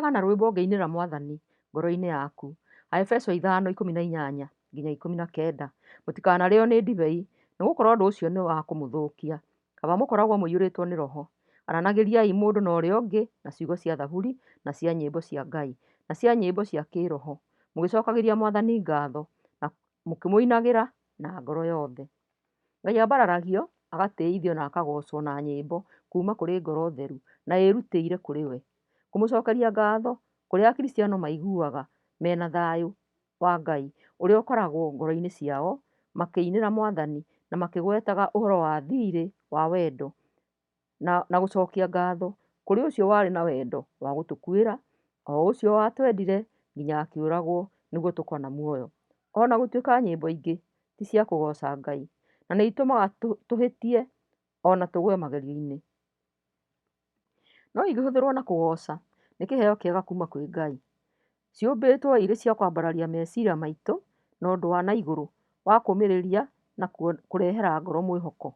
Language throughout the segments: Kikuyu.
Ũrĩraga na rwĩmbo ũngĩinĩra Mwathani ngoro-inĩ yaku. Aefeso ithano ikũmi na inyanya nginya ikũmi na kenda. Mũtikanarĩo nĩ ndibei, nĩ gũkorwo ũndũ ũcio nĩ wa kũmũthũkia. Kaba mũkoragwo mũiyũrĩtwo nĩ Roho. Aranagĩriai mũndũ na ũrĩa ũngĩ na ciugo cia thaburi, na cia nyĩmbo cia Ngai, na cia nyĩmbo cia kĩĩroho, mũgĩcokagĩria Mwathani ngatho, na mũkĩmũinagĩra na ngoro yothe. Ngai ambararagio, agatĩithio na akagoocwo na nyĩmbo kuuma kũrĩ ngoro theru na ĩĩrutĩire kũrĩ we. Kũmũcookeria ngatho kũrĩa Akristiano maiguaga me na thayũ wa Ngai ũrĩa ũkoragwo ngoro-inĩ ciao makĩinĩra Mwathani na makĩgwetaga ũhoro wa thiirĩ wa wendo. na gũcokia ngatho kũrĩ ũcio warĩ na wendo wa gũtũkuĩra, o ũcio watwendire nginya akĩũragwo nĩguo tũkorwo na muoyo. Ona gũtuĩka nyĩmbo ingĩ ti cia kũgoca Ngai, na nĩ itũmaga tũhĩtie ona tũgwe magerio-inĩ, no ingĩhũthĩrwo na kũgoca nĩ kĩheo kĩega kuma kwĩ Ngai. Ciũmbĩtwo irĩ cia kwambararia meciria maitũ na ũndũ wa na igũrũ wa kũmĩrĩria na kũrehera ngoro mwĩhoko.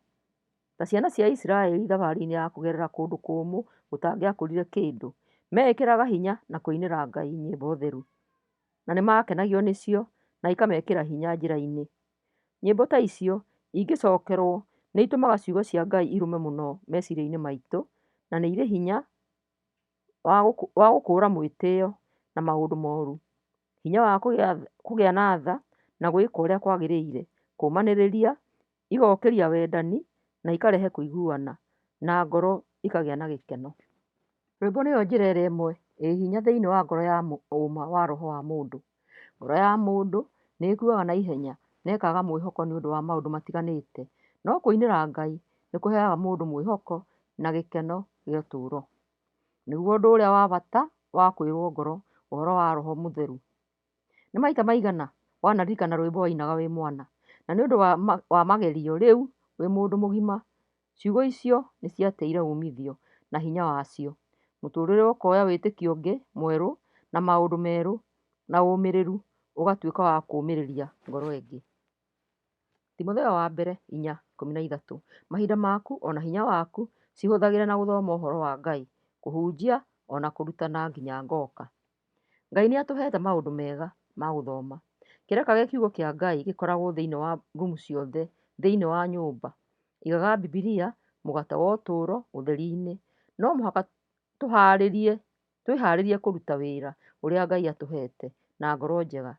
ta ciana cia Isiraeli thabarĩinĩ ya kũgerera kũndũ kũmũ gũtangĩakũrire kĩndũ, meekĩraga hinya na kũinĩra Ngai nyĩmbo theru, na nĩ maakenagio nĩcio na ikamekĩra hinya njĩra-inĩ. Nyĩmbo ta icio ingĩcokerũo nĩ itũmaga ciugo cia Ngai irũme mũno meciria-inĩ maitũ na nĩ irĩ hinya. wa gũkũũra mwĩtĩo na maũndũ moru, hinya wa kũgĩa na tha na gwĩka ũrĩa kwagĩrĩire, kũũmanĩrĩria, igokĩria wendani na ikarehe kũiguana na ngoro ikagĩa na gĩkeno. Rwĩmbo nĩyo njĩra ĩrĩa ĩmwe ĩĩ hinya thĩinĩ wa ngoro ya ũũma wa roho wa mũndũ. Ngoro ya mũndũ nĩ ĩkuaga na ihenya na ĩkaaga mwĩhoko nĩ ũndũ wa maũndũ matiganĩte, no kũinĩra Ngai nĩ kũheaga mũndũ mwĩhoko na gĩkeno gĩa ũtũũro. Nĩguo ũndũ ũrĩa wa bata wa kũiyũrũo ngoro ũhoro wa roho mũtheru. Nĩ maita maigana wanaririkana rwĩmbo wainaga wĩ mwana? Na nĩ ũndũ wa magerio rĩu wĩ mũndũ mũgima? Ciugo icio nĩ ciateire uumithio na hinya wacio. Mũtũũrĩre ũkoya wĩtĩkio ũngĩ mwerũ na maũndũ merũ, na ũmĩrĩru ũgatuĩka wa kũũmĩrĩria ngoro ĩngĩ. Timotheo wa Mbere 4:13 Mahinda maku o na hinya waku cihũthagĩre na gũthoma ũhoro wa Ngai, kũhunjia, o na kũrutana nginya ngoka. Ngai nĩ atũheete maũndũ mega ma gũthoma. Kĩraka gĩa kiugo kĩa Ngai gĩkoragwo thĩinĩ wa rumu ciothe thĩinĩ wa nyũmba. Igaga Bibilia, Mũgate wa Ũtũũro, ũtheri-inĩ. No mũhaka tũhaarĩrie, twĩhaarĩrie kũruta wĩra ũrĩa Ngai atũheete na ngoro njega.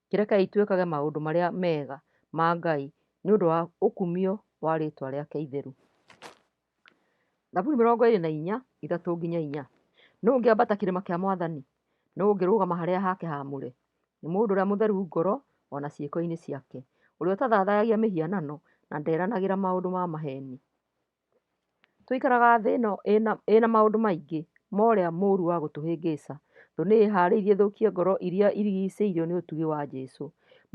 Kĩrekei twĩkage maũndũ marĩa mega ma Ngai nĩ ũndũ wa ũkumio wa rĩĩtwa rĩake itheru. Thaburi mĩrongo ĩrĩ na inya ithatũ nginya inya. Nũũ ũngĩambata kĩrĩma kĩa mwathani? Nũũ ũngĩrũgama harĩa hake haamũre? Nĩ mũndũ ũrĩa mũtheru ngoro o na ciĩko-inĩ ciake, ũrĩa ũtathathayagia mĩhianano na nderanagĩra maũndũ ma maheni. Tũikaraga thĩ ĩno ĩna maũndũ maingĩ ma ũrĩa mũũru wa gũtũhĩngĩca. Thũ nĩ ĩĩhaarĩirie ĩthũkie ngoro iria irigicĩirio nĩ ũtugi wa Jesu.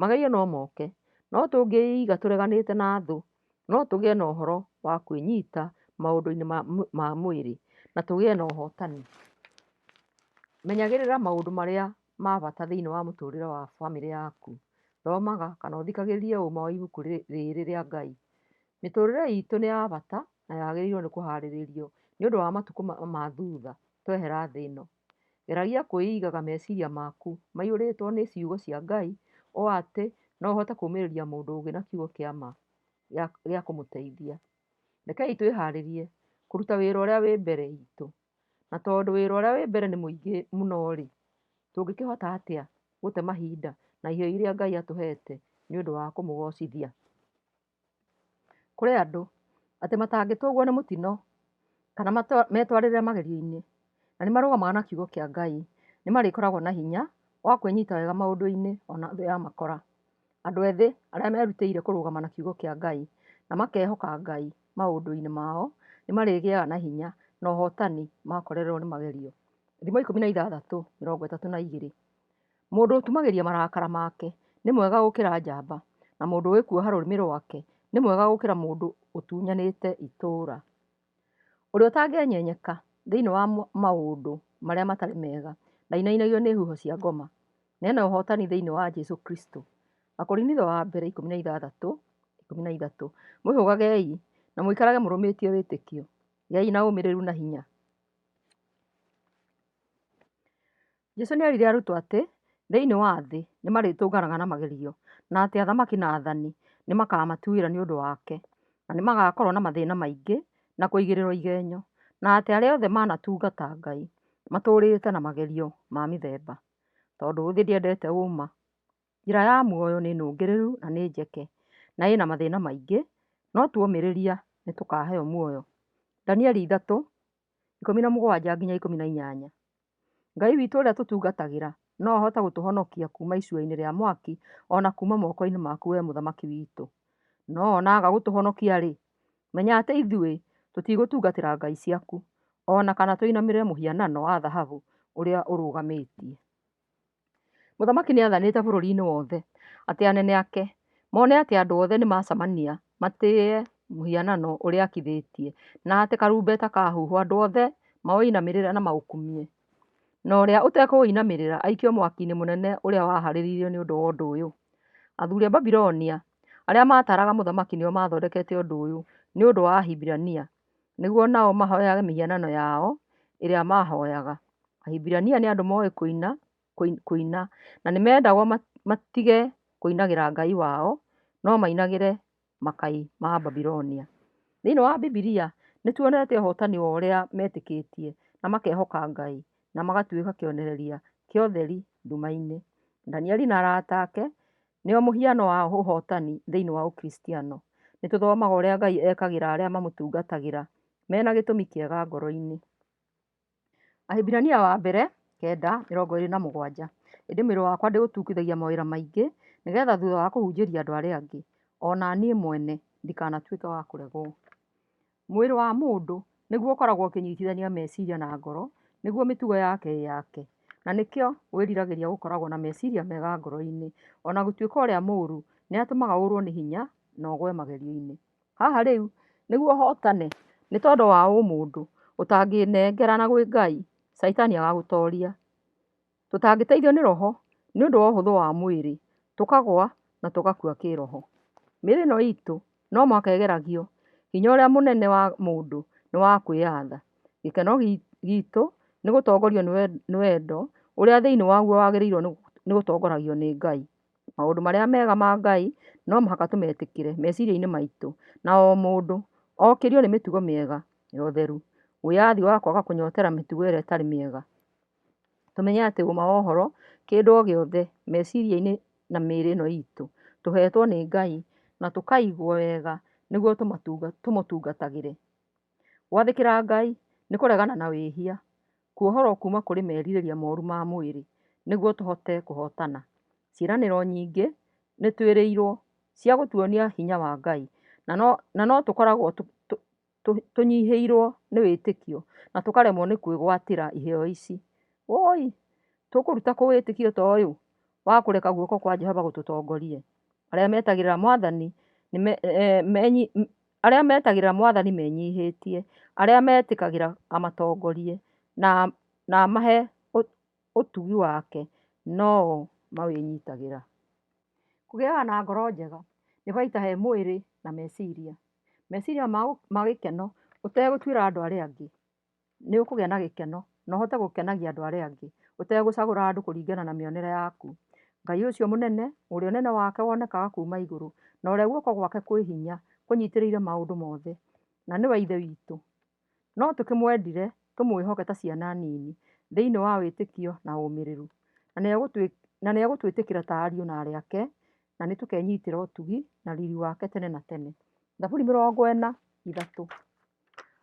Magerio no moke, no tũngĩĩiga tũreganĩte na thũ no tũgĩe na ũhoro wa kwĩnyita maũndũ-inĩ ma mwĩrĩ na tũgĩe na ũhotani. Menyagĩrĩra maũndũ marĩa ma bata thĩinĩ wa mũtũrĩre wa bamĩrĩ yaku. Thomaga kana ũthikagĩrĩrie ũma wa ibuku rĩrĩ rĩa Ngai. Mĩtũrĩre itũ nĩ ya bata na yagĩrĩirwo nĩ kũharĩrĩrio nĩ ũndũ wa matukũ ma thutha twehera thĩ ĩno. Geragia kwĩigaga meciria maku maiyũrĩtwo nĩ ciugo cia Ngai ũũ atĩ no ũhote kũũmĩrĩria mũndũ ũngĩ na kiugo kĩa ma gĩa kũmũteithia. Rekei twĩhaarĩrie kũruta wĩra ũrĩa wĩ mbere itũ. Na tondũ wĩra ũrĩa wĩ mbere nĩ mũingĩ mũno-rĩ, tũngĩkĩhota atĩa gũte mahinda na iheo iria Ngai atũheete nĩ ũndũ wa kũmũgoocithia? Kũrĩ andũ atĩ matangĩtũgwo nĩ mũtino kana metwarĩre magerio-inĩ na nĩ marũgamaga na kiugo kĩa Ngai, nĩ marĩkoragwo na hinya wa kwĩnyita wega maũndũ-inĩ ona thĩ ya makora. Andũ ethĩ arĩa merutĩire kũrũgama na kiugo kĩa Ngai na makehoka Ngai maũndũ-inĩ mao, nĩ marĩgĩaga na hinya na ũhotani makorererwo nĩ magerio. Thimo ikũmi na ithathatũ mĩrongo ĩtatũ na igĩrĩ. Mũndũ ũtumagĩria marakara make nĩ mwega gũkĩra njamba, na mũndũ ũgĩkuoha rũrĩmĩ rwake nĩ mwega gũkĩra mũndũ ũtunyanĩte itũũra. Ũrĩa ũtangĩenyenyeka thĩinĩ wa maũndũ marĩa matarĩ mega ndainainagio nĩ huho cia ngoma, na ena ũhootani thĩinĩ wa Jesu Kristo. Akorinitho wa mbere ikũmi na ithathatũ, ikũmi na ithatũ. Mwĩhũgagei na mũikarage mũrũmĩtie wĩtĩkio, gĩai na ũmĩrĩru na hinya. Jesu nĩ eerire arutwo atĩ thĩinĩ wa thĩ nĩ marĩtũnganaga na magerio, na atĩ athamaki na athani nĩ makaamũtuĩra nĩ ũndũ wake, na nĩ magaakorũo na mathĩna maingĩ na kũigĩrĩrũo igenyo, na atĩ arĩa othe manatungata Ngai matũũrĩte na magerio ma mĩthemba. Tondũ thĩ ndĩendete ũũma, njĩra ya muoyo nĩ nũngĩrĩru na nĩ njeke, na ĩna mathĩna maingĩ, no tuomĩrĩria nĩ tũkaaheo muoyo. Danieli 3:17-18 Ngai witũ ũrĩa tũtungatagĩra no ahote gũtũhonokia kuuma icua-inĩ rĩa mwaki, o na kuuma moko-inĩ maku wee mũthamaki witũ. No o na aga gũtũhonokia-rĩ, menya atĩ ithuĩ tũtigũtungatĩra ngai ciaku, o na kana tũinamĩrĩre mũhianano wa thahabu ũrĩa ũrũgamĩtie. Mũthamaki nĩathanĩte bũrũri-inĩ wothe atĩ anene ake mone atĩ andũ othe nĩmacemania matĩĩe mũhianano ũrĩa akithĩtie, na atĩ karumbeta kahuhwo andũ othe maũinamĩrĩre na maũkumie, na ũrĩa ũtekũũinamĩrĩra aikio mwaki-inĩ mũnene ũrĩa waharĩrĩirio nĩ ũndũ wa ũndũ ũyũ. Athuri a Babilonia arĩa maataraga mũthamaki nĩo maathondekete ũndũ ũyũ nĩ ũndũ wa Ahibirania. nĩguo nao mahoyage mĩhianano yao ĩrĩa maahoyaga. Ahibirania nĩ andũ moĩ kũina, kũina na nĩ mendagwo matige kũinagĩra Ngai wao no mainagĩre makai ma Babilonia. Thĩinĩ wa Bibilia nĩ tuonete ũhotani wa ũrĩa metĩkĩtie na makehoka Ngai na magatuĩka kĩonereria kĩa ũtheri nduma-inĩ. Danieli na arata ake Nĩo mũhiano wa ũhootani thĩinĩ wa Ũkristiano. Nĩ tũthomaga ũrĩa Ngai ekagĩra arĩa mamũtungatagĩra mena gĩtũmi kĩega ngoro-inĩ. Ahĩbirania wa mbere kenda mĩrongo ĩrĩ na mũgwanja. Ĩndĩ mwĩrĩ wakwa ndĩũtungithagia mawĩra maingĩ, nĩgetha thutha wa kũhunjĩria andũ arĩa angĩ, o na niĩ mwene ndikanatuĩke wa kũregwo. Mwĩrĩ wa mũndũ nĩguo ũkoragwo ũkĩnyitithania meciria na ngoro nĩguo mĩtugo yake ĩyake, na nĩkĩo wĩriragĩria gũkoragwo na meciria mega ngoro-inĩ, o na gũtuĩka ũrĩa mũũru nĩ atũmaga ũũrũo nĩ hinya na ũgwe magerio-inĩ. Haha rĩu, nĩguo ũhootane nĩ tondũ wa ũmũndũ ũtangĩĩnengerana gwĩ Ngai, Shaitani agagũtooria. Tũtangĩteithio nĩ roho nĩ ũndũ wa ũhũthũ wa mwĩrĩ, tũkagũa na tũgakua kĩĩroho. Mĩĩrĩ ĩno iitũ no mũhaka ĩgeragio. Hinya ũrĩa mũnene wa mũndũ nĩ wa kwĩyatha. Gĩkeno giitũ nĩ gũtongorio nĩ wendo ũrĩa thĩinĩ waguo wagĩrĩirũo nĩ gũtongoragio nĩ Ngai. Maũndũ marĩa mega ma Ngai no mũhaka tũmetĩkĩre meciria-inĩ maitũ na o mũndũ okĩrio nĩ mĩtugo mĩega ya ũtheru, wĩyathi wa kwaga kũnyotera mĩtugo ĩrĩa ĩtarĩ mĩega. Tũmenye atĩ ũũma wa ũhoro, kĩndũ o gĩothe, meciria-inĩ na mĩĩrĩ ĩno iitũ, tũheetwo nĩ Ngai, na tũkaigwo wega nĩguo tũmũtungatagĩre. Gwathĩkĩra Ngai, nĩ kũregana na wĩhia, kuohorwo kuuma kũrĩ merirĩria mooru ma mwĩrĩ, nĩguo tũhote kũhootana. Ciĩranĩro nyingĩ, nĩ twĩrĩirwo, cia gũtuonia hinya wa Ngai, na no, na no tũkoragwo tũnyihĩirwo nĩ wĩtĩkio na tũkaremwo nĩ kwĩgwatĩra iheo ici. Woi! Tũkũruta kũ wĩtĩkio ta ũyũ wa kũreka guoko kwa Jehova gũtũtongorie? Arĩa metagĩrĩra mwathani, arĩa metagĩrĩra mwathani menyihĩtie, arĩa metĩkagĩra amatongorie na amahe ũtugi wake no o mawĩnyitagĩra. Kũgĩaga na ngoro njega nĩ baita he mwĩrĩ na meciria. Meciria mau ma gĩkeno ũtegũtuĩra andũ arĩa angĩ, nĩ ũkũgĩa na gĩkeno na ũhote gũkenagia andũ arĩa angĩ ũtegũcagũra andũ kũringana na mĩonere yaku. Ngai ũcio mũnene ũrĩa ũnene wake wonekaga kuma igũrũ na ũrĩa guoko gwake kwĩ hinya kũnyitĩrĩire maũndũ mothe na nĩwe Ithe witũ. No tũkĩmwendire, tũmwĩhoke ta ciana nini thĩinĩ wa wĩtĩkio na ũmĩrĩru, na nĩegũtwĩtĩkĩra ta ariũ na aarĩ ake, na nĩtũkenyitĩra ũtugi na riri wake tene na tene. Thaburi mĩrongo ĩna, ithatũ.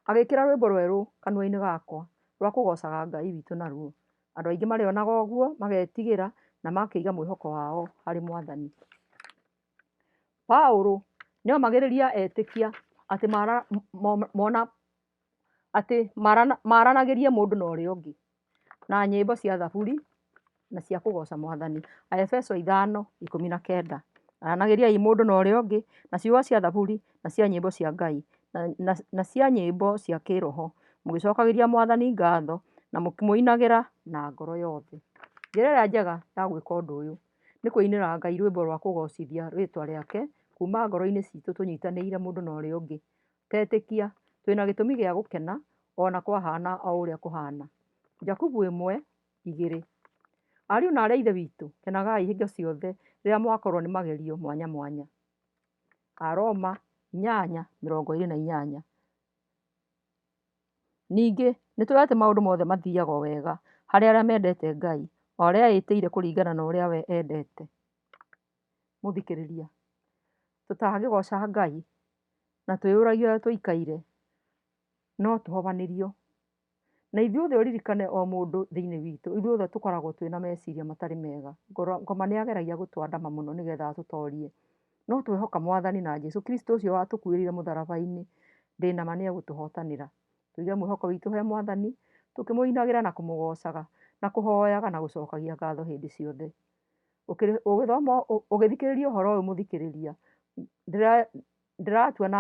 Agĩkĩra rwĩmbo rwerũ kanua-inĩ gakwa, rwa kũgoocaga Ngai witũ naruo. Andũ aingĩ marĩonaga ũguo, magetigĩra, na makaiga mwĩhoko wao harĩ Mwathani. Paulo nĩomagĩrĩria etĩkia atĩ mona atĩ maranagĩrie mũndũ na ũrĩa ũngĩ na nyĩmbo cia thaburi na cia kũgoca mwathani. Aebeso ithano ikũmi na kenda. Aranagĩriai mũndũ na ũrĩa ũngĩ na ciugo cia thaburi na cia nyĩmbo cia Ngai na cia nyĩmbo cia kĩroho mũgĩcokagĩria mwathani ngatho na mũkĩmũinagĩra na ngoro yothe. Njĩra ĩrĩa njega ya gwĩka ũndũ ũyũ. Nĩ kũinĩra Ngai rwĩmbo rwa kũgoocithia rĩĩtwa rĩake kuuma ngoro-inĩ citũ tũnyitanĩire mũndũ na ũrĩa ũngĩ. Tetĩkia, twĩ na gĩtũmi gĩa gũkena o na kwahaana o ũrĩa kũhaana. Jakubu 1, 2. Ariũ na aarĩ a Ithe witũ, kenagai hingo ciothe rĩrĩa mwakorũo nĩ magerio mwanya mwanya. Aroma 8, 28. Ningĩ, nĩ tũĩ atĩ maũndũ mothe mathiiaga o wega harĩ arĩa mendete Ngai, o arĩa eĩtĩire kũringana na ũrĩa we endete. Mũthikĩrĩria, tũtangĩgooca Ngai na twĩyũragia ũrĩa tũikaire, no tũhobanĩrio. Na ithuothe ũririkane o mũndũ thĩinĩ witũ, ithuothe tũkoragwo twĩna meciria matarĩ mega. Ngoma nĩ ageragia gũtũandama mũno nĩgetha atũtorie. No twehoka mwathani na Jesu Kristo ũcio watũkuĩrĩire mũtharaba-inĩ, ndĩ na ma nĩ egũtũhotanĩra. Tũige mwĩhoko witũ he mwathani, tũkĩmũinagĩra na kũmũgoocaga, na kũhoyaga na gũcokagia ngatho hĩndĩ ciothe. Ũkĩrĩ, ũgĩthoma, ũgĩthikĩrĩria ũhoro ũyũ mũthikĩrĩria, ndĩra, ndĩratua na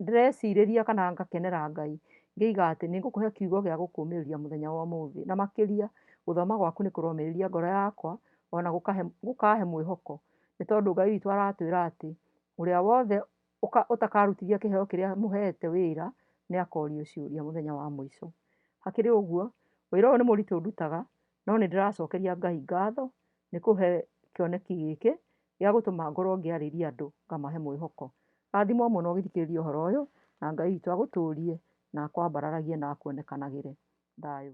Ndĩrecirĩria kana ngakenera Ngai ngĩiga atĩ nĩ ngũkũhe kiugo gĩa gũkũũmĩrĩria mũthenya wa ũmũthĩ. Na makĩria, gũthoma gwaku nĩ kũromĩrĩria ngoro yakwa o na gũkaahe mwĩhoko. Nĩ tondũ Ngai witũ aratwĩra atĩ, Ũrĩa wothe ũtakarutithia kĩheo kĩrĩa mũheete wĩra nĩ akoorio ciũria mũthenya wa mũico. Hakĩrĩ ũguo, ũira ũyũ nĩ mũritũ ũndutaga no nĩ ndĩracokeria Ngai ngatho nĩ kũhe kĩoneki gĩkĩ gĩa gũtũma ngorwo ngĩarĩria andũ ngamahe mwĩhoko. Rathimwo mũno ũgĩthikĩrĩria ũhoro ũyũ na Ngai witũ agũtũrie na akwambararagie na akuonekanagĩre. Thayũ.